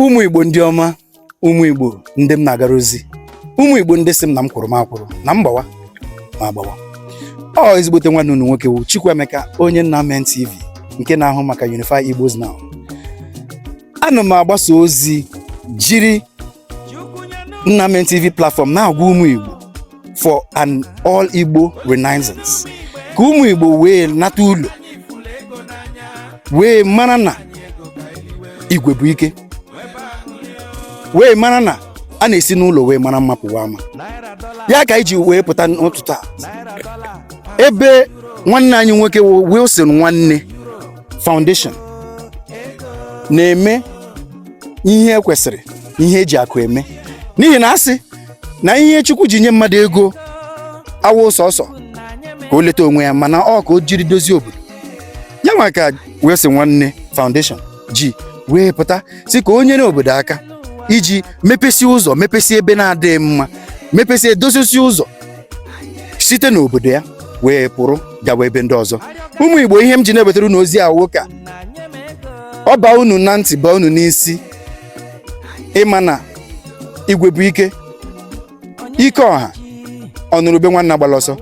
ụmụ igbo ndị ọma ụmụ igbo ndị m na-agara ozi ụmụ igbo ndị sị m na m kwụrụ m akwụrụ na m gbawa m agbawa ọ ezigbote nwanne unu nwoke wụ Chukwuemeka onye nna men TV nke na-ahụ maka Unify Igbos Now ana m agbasa ozi jiri Nna Men TV platform na-agwa ụmụ Igbo for an all Igbo renaissance ka ụmụ Igbo wee nata ụlọ wee mara na igwe bụ ike wee mara na a na-esi n'ụlọ wee mara mma pụwa ama ya ka anyị ji wee pụta n'ụtụtụ a ebe nwanne anyị nwoke Wilson nwanne foundation na-eme ihe e kwesịrị ihe eji akụ eme n'ihi na a sị na ihe chukwu ji nye mmadụ ego awụ sọsọ ka o leta onwe ya mana ọ ka o jiri dozie obodo ya nwa ka Wilson nwanne foundation ji wee pụta sị ka o nyere obodo aka iji mepesie ụzọ mepesie ebe na-adịghị mma mepesie dozisie ụzọ site n'obodo ya wee pụrụ gawa ebe ndị ọzọ ụmụ igbo ihe m ji na-ewetara unu ozi a wụ ka ọ baa unu na ntị baa unu n'isi ịma na igwe bụ ike ike ọha ọ nụrụ ube nwanne agbala ọsọ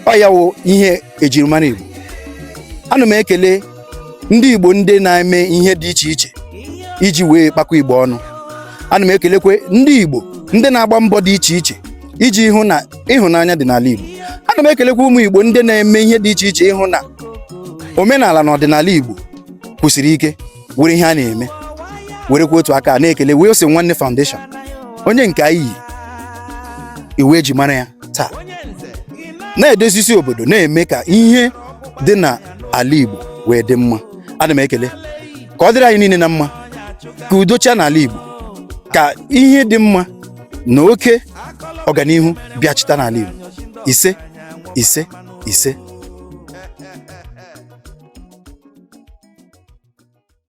ọ ya wụ ihe ejirimara igbo ana m ekele ndị igbo ndị na-eme ihe dị iche iche iji wee kpakọ igbo ọnụ ana m ekelekwe ndị igbo ndị na-agba mbọ dị iche iche iji hụ na ịhụnanya dị n'ala Igbo ana m ekelekwa ụmụ Igbo ndị na-eme ihe dị iche iche ịhụ na omenala na ọdịnala Igbo kwụsiri ike were ihe a na-eme werekwa otu aka na-ekele Wilson Nwanne Foundation onye nke anyị yi iwu eji mara ya taa na-edozisi obodo na-eme ka ihe dị na ala Igbo wee dị mma ana m ekele ka ọ dịrị anyị niile na mma ka udo chịa n'ala Igbo ka ihe dị mma na oke ọganihu bịachita n'ala Igbo ise ise ise